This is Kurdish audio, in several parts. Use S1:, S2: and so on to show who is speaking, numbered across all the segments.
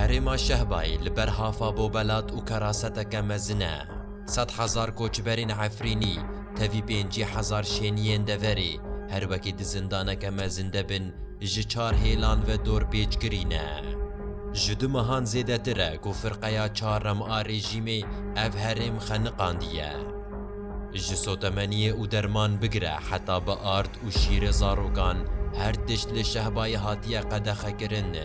S1: Herêma Şehbayê li ber hafa bobelat û keraseteke mezin e. Sed hezar koçberên Efrînî tevî pêncî hezar şêniyên deverê her wekî di zindaneke mezin de bin ji çar hêlan ve dorpêç kirîne. Ji du mehan zêdetir e ku firqeya çarem a rejîmê ev herêm xeniqandiye. Ji sotemeniyê û derman bigire heta bi ard û şîrê zarokan her tişt li Şehbayê hatiye qedexekirin.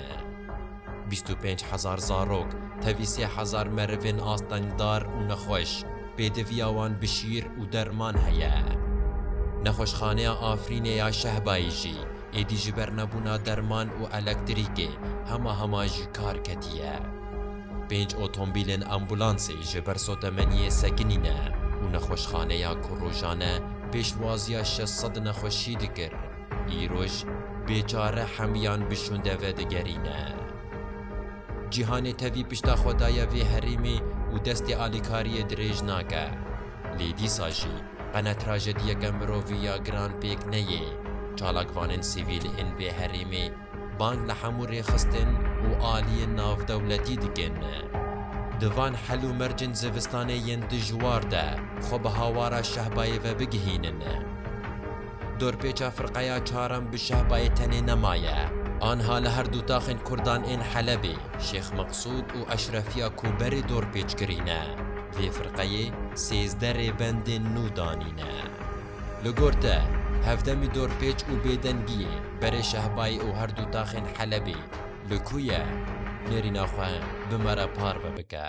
S1: Bîst û pênc hezar zarok, tevî sê hezar merivên astengdar û nexweş, pêdiviya wan bi şîr û derman heye. Nexweşxaneya Afrînê ya Şehbayê jî êdî ji ber nebûna derman û elektrîkê hema hema ji kar ketiye. Pênc otombîlên ambûlansê ji ber sotemeniyê sekinîne û nexweşxaneya ku rojane pêşwaziya şeş sed nexweşî dikir, Îroj bêçare hemiyan bi şûnde vedigerîne. Cîhanê tevî pişta xwe daye vê herêmê û destê alîkariyê dirêj nake. Lê dîsa jî qene trajediyeke mirovî ya giran pêk neyê, çalakvanên sivîl ên vê herêmê, Bang li hemû rêxistin û aliyên navdewletî dikin. Di van hel û mercên zivistanê yên dijwar de xwe bi hawara Şehbayê ve bigihînin. Dorpêça firqeya çarem bi Şehbayê tenê nemaye. Anha li her du taxên kurdan ên Helebê, Şêx Meqsûd û Eşrefiya ku berê dorpêç kirîne, vê firqeyê sêzdeh rêbendên nû danîne. Li gor te, hevdemî dorpêç û bêdengiyê berê Şehbayê û her du taxên Helebê li ku ye? Nêrîna xwe bi me re parve bike.